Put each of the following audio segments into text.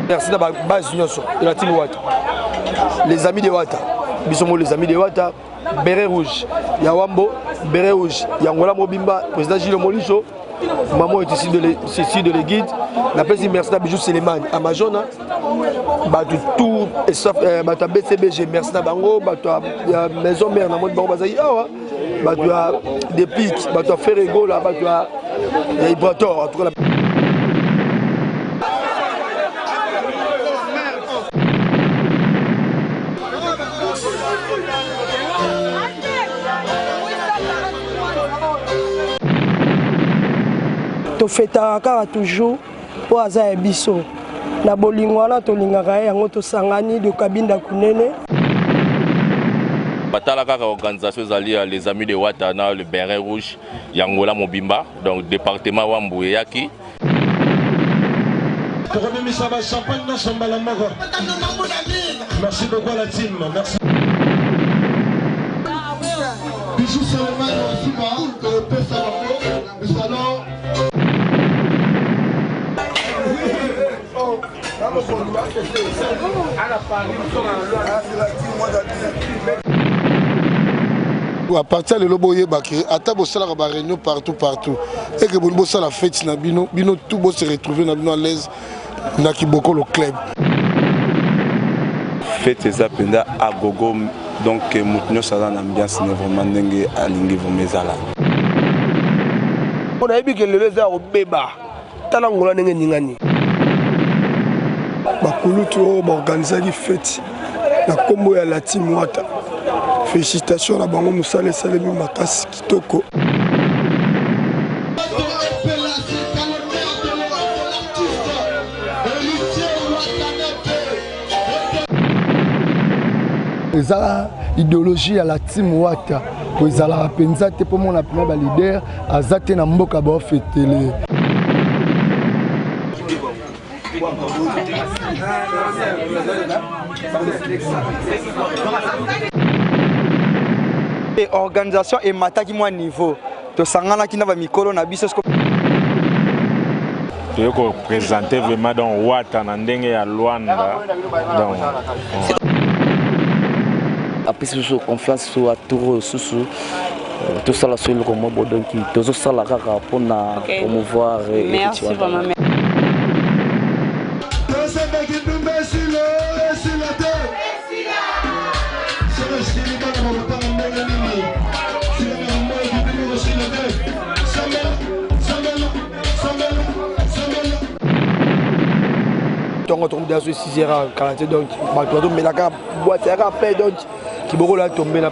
merci na babase nyonso donatine wata les amis de wata biso ngo les amis de wata beret rouge ya wambo beret rouge ya ngola mobimba président gilo moliso maman est ici de, le, ici de l'éguide napesi merci na bijou selemani amazona bato tout euh, bato ya bcbg merci na bango bato ya maison mare na moni bango bazali awa bato ya depic bato ya ferregola bato ya ibrator en tout cas tofetaka kaka toujours mpo aza ya biso na bolingo wana tolingaka ye yango tosangani dokabinda kunene batala kaka organisation ezali ya les amis de wata na le berin rouge ya ngola mobimba donc département wambu eyaki tokobimisa ba champagne nyonso mbala moko merci beaucoup à la team merci bisu selemani wa nsima topesa bango misalo à partir ya lelo boyeba ke ata bosalaka baréunion partout partout eke boni bosala feti na bino bino tout bose retrouve na bino à l'aise na kibokolo club fete eza mpenza agogo donc eh, moto nyonso aza na ambiance ne vraiment ndenge alingi vraimen ezala mpo nayebi ke lelo eza ya kobeba tala ngola ndenge eningani bakulutu oyo baorganisaki feti na nkombo ya lati mwata félicitation na bango mosala esalemi makasi kitoko eza ideologie ya la team wata po ezalaka mpenza te mpo mona mpena balider aza te na mboka baofetele organisation emataki mwa niveau tosanganaki na bamikolo na biso toye kopresente vraiment donc wata na ndenge ya lwanda donc apesi biso confiance so atour oyo susu euh, tosala so eloko mwa bo donki tozosala kaka mpona promouvoir ntongo tokomuta so esizera kala te donc bato bazomelaka bwate yaka pe donc kibokolo ya tombela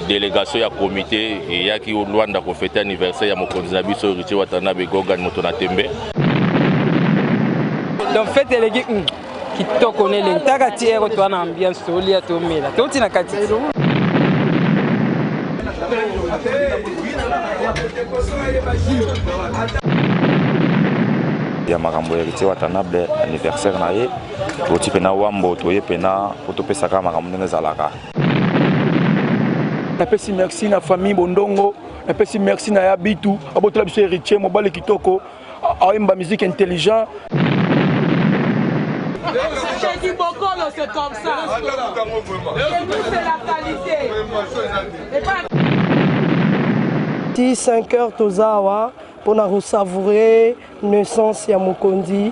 delegation ya komite eyaki luanda kofete anniversaire ya mokonzi na biso ritie watanabe gogan moto na tembe donc fete eleki hmm. kitoko nele ntaka ti ero toa na ambiance tolia tomela toti na kati ya makambo ya héritier watanable anniversaire na ye toti mpena wambo toye mpena mpo topesaka makambo ndenge ezalaka napesi merci na famille bondongo napesi merci na ya bitu abotola biso héritier mobali kitoko Aimba musique intelligent. C'est du bokolo, c'est comme ça. Chez nous, c'est la qualité. Et pas... Ti 5 heures tozawa pour na savourer naissance ya mokondi